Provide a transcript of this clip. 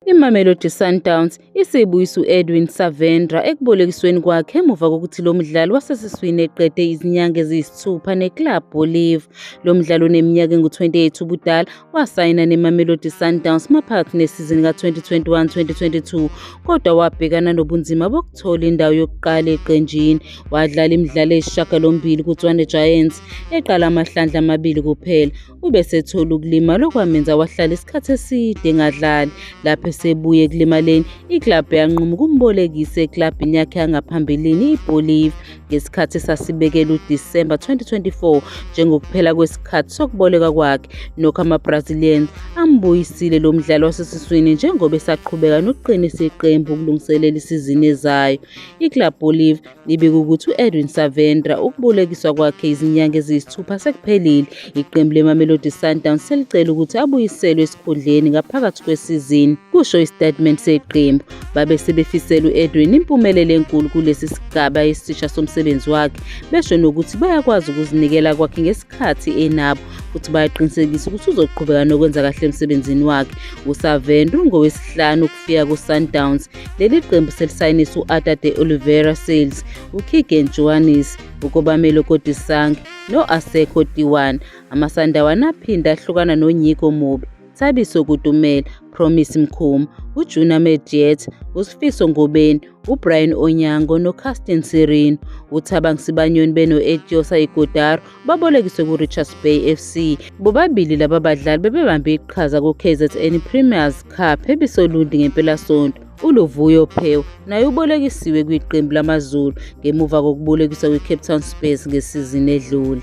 IMamelodi Sundowns isibuyisa u-Edwin Savendra ekubolekisweni kwakhe emuva kokuthi lo mdlali wasesiswini eqede izinyanga eziyisithupha neClub Olive. Lo mdlali oneminyaka engu-28 ubudala wasayina neMamelodi Sundowns maphakathi nesizini ka-2021-2022 kodwa wabhekana nobunzima bokuthola indawo yokuqala eqenjini. Wadlala imidlalo eyisishagalombili kuTswane Giants, eqala amahlandla amabili kuphela. ubesethola ukulimala okwamenza wahlala isikhathi eside engadlali lapho esebuye ekulimaleni iklabhu yanquma ukumbolekisa eklabhini yakhe yangaphambilini ibolive ngesikhathi esasibekela udisemba 2024 njengokuphela kwesikhathi sokuboleka kwakhe nokho amabrazilians ambuyisile lo mdlali wasesiswini njengoba esaqhubeka nokuqinisa iqembu ukulungiselela isizini ezayo iklabhu olive Ibika ukuthi u-Edwin Savendra ukubolekiswa kwakhe izinyanga eziyisithupha sekuphelile. Iqembu leMamelodi Sundowns selicela ukuthi abuyiselwe esikhundleni ngaphakathi kwesizini, kusho isitatimende seqembu. Babe sebefisela u-Edwin impumelelo enkulu kulesi sigaba esisha somsebenzi wakhe, besho nokuthi bayakwazi ukuzinikela kwakhe ngesikhathi enabo futhi bayaqinisekisa ukuthi uzoqhubeka nokwenza kahle emsebenzini wakhe. USavendra ungowesihlanu ukufika kuSundowns Leli qembu selisayinisa u-Ada de Oliveira Sales, uKeegan Johannes, uKobamelo Kodisang no-Asekho Tiwan. Amasandawana aphinde ahlukana noNyiko Mubi, Thabiso Kutumela, Promise Mkhuma, uJuna Mediet, uSifiso Ngobeni, uBrian Onyango noCastin Sirino. UThabang Sibanyoni beno-Etiosa Igodaro babolekiswe ku-Richards Bay FC. Bobabili laba badlali bebebambe iqhaza ku-KZN Premiers Cup ebisolundi ngempelasonto. ULuvuyo Phew naye ubolekisiwe kwiqembu lamaZulu ngemuva kokubolekiswa kwi-Cape Town Spurs ngesizini edlule.